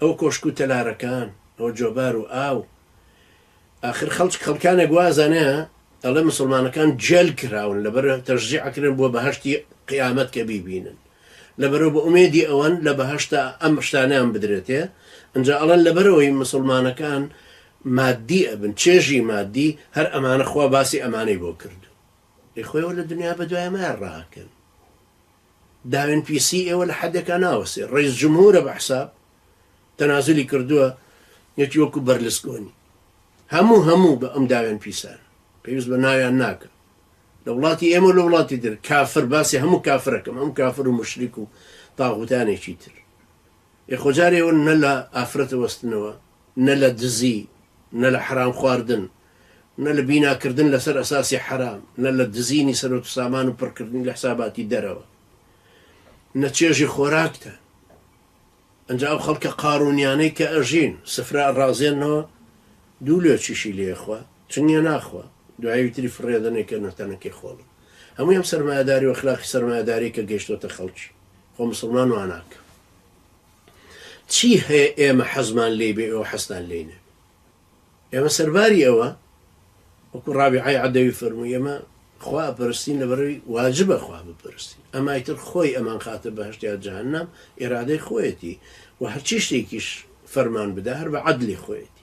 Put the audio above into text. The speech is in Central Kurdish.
ئەو کۆشک و تەلارەکان ئەو جۆبار و ئاو ئاخر خەڵچ خەڵکانێک وازانێ ئەڵێ مسوڵمانەکان جێل کراون لەبەر تەشجیع ئەکرێن بۆ بەهەشتی قیامەت کە بیبینن لەبەرەو بە ئومێدی ئەوەن لە بەهەشتا ئەم شتانەیان بدرێتێ ئەنجا ئەڵێن لەبەرەوەی مسوڵمانەکان مادی ئەبن چێژی مادی هەر ئەمانە خوا باسی ئەمانەی بۆ کردوو ئەی خۆیەوە لە دنیا بەدوایەمایان ڕاکەن. داوێن پیسی ئێوە لە حەدێکا ناوەستێ ڕەیس جمهورە بە حساب تەنازولی کردوە یەتی وەکو بەرلسکۆنی هەموو هەموو بە ئەم داوێن پیسان پێویست بە ناویان ناکەم لە وڵاتی ئێمە لە وڵاتی در کافر باسی هەموو کافرەکەم ئەم کافر و مشریک و تاغوتانێکی تر ئێ خۆجارێەوە نە لە ئافرەتە وەستنەوە نە لە دزی نە لە حرام خواردن نە لە بینا کردن لەسەر ئەساسی حەرام، نە لە دزینی سەروەت و سامان و پڕکردنی لە حساباتی دەرەوە، نە چێژی خۆراکتان. ئەنجا ئەو خەڵکە قارونیانەی کە ئەژین، سفرە ئەڕازێننەوە، دوو لۆچیشی لێ ئەخوا، چنگێ ناخوا، دوایەوی تری فڕێدەن ئەیکەنە تەنەکەی خۆڵی. هەمووی ئەم سەرمایەداری و ئەخلاقی سەرمایەداریەی کە گەیشتۆتە خەڵکی، خۆ موسڵمان واناکا. چی هەیە ئێمە حەزمان لێی بێ ئێوە حەزتان لێی نەبێ؟ ئێمە سەرباری ئەوە، وەکو ڕابیعەی عەدەوی فەرمووی، ئێمە خوا ئەپەرستین لەبەرئەوەی واجبە خوا بپەرستین، ئەمای تر خۆی ئەمانخاتە بەهەشت یا جەهەنەم ئیرادەی خۆیەتی و هەرچی شتێکیش فەرمان بدا هەر بە عەدلی خۆیەتی.